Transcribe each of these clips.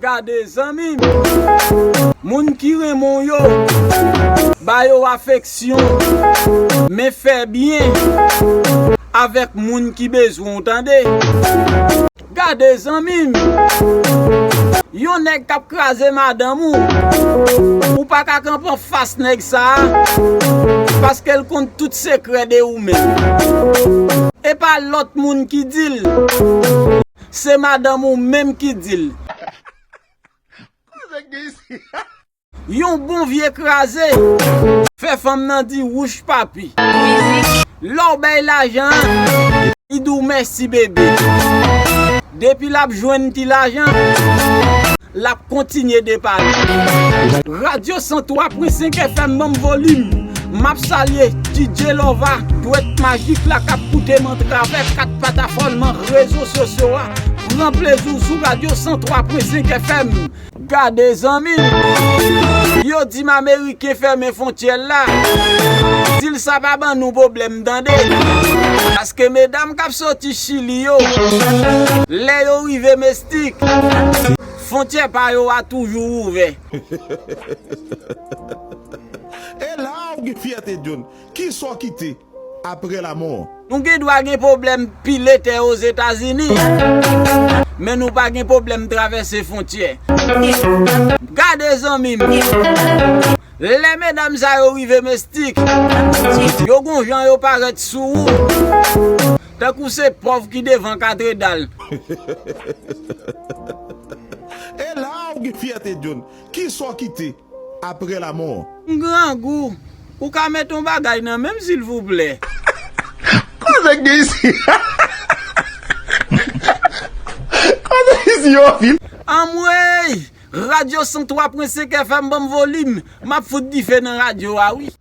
Gade zanmim Moun ki renmen w yo Ba yo afeksyon Men fè byen Avèk moun ki bezwen w tande Gade zanmim Yon nèg kap kraze madanm ou Ou paka kanpe anfas nèg sa Paske l konn tout sekrè de ou menm Epa lòt moun ki dil. Se madanm ou menm ki di l. Koze k gen isi. Yon bon vye kraze. Fè fanm nan di wouch papi. Lè w bay lajan an. Li di w mèsi bebe. Depi l ap jwenn ti lajan. lap kontinye depale. Radio 103 pwen 5 FM banm volim Map salye DJ lova dwèt magik la kap koutem antravè 4 patafòn man rezo sosyo a pran plezi w sou radio 103 pwen 5 FM. Gade zanmi m. Yo dim ameriken fèmen fontyèl la. Dil sa pa ban nou pwoblèm tande. Paske medam kap soti chili yo. Lè yo rive mes. Tik! Fontyè pa yo a toujou ouvè. E la a ou gen fyète John. Kisa w kite apre lamò an? Nou gen dwa gen pwoblèm pile tè Ozetazini, men nou pa gen pwoblèm travèse fontyè. Gade zanmi m! Lè medam sa yo rive Mestik, yo gon jan yo parèt sou ou. Tankou se pov ki devan katredal. E la a ou gen fyète John. Kisa ou kite apre lamò an? M grangou. Ou ka met yon bagay nan menm silvouplè? Koze k gen isi Koze isi yo anpil. Anmweyy! Radio 103.5 FM banm volim, map fout dife nan radio a wi.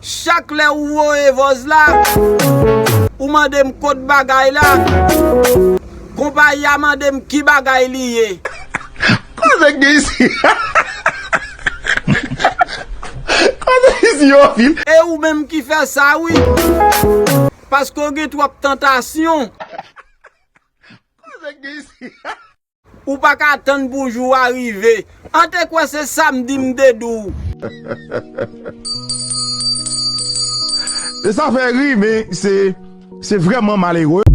Chak lè ou voye vòz la, ou mande m kot bagay la, konpayi a mande m ki bagay li ye. Koze k gen isi Koze isi yo anpil. E ou menm ki fè sa wi, paske w gen twòp tantasyon. Koze k gen isi. Ou pa ka tann pou jou a rive. An te kwè se samdi m te di w. E sa fè ri men se vrèman malere.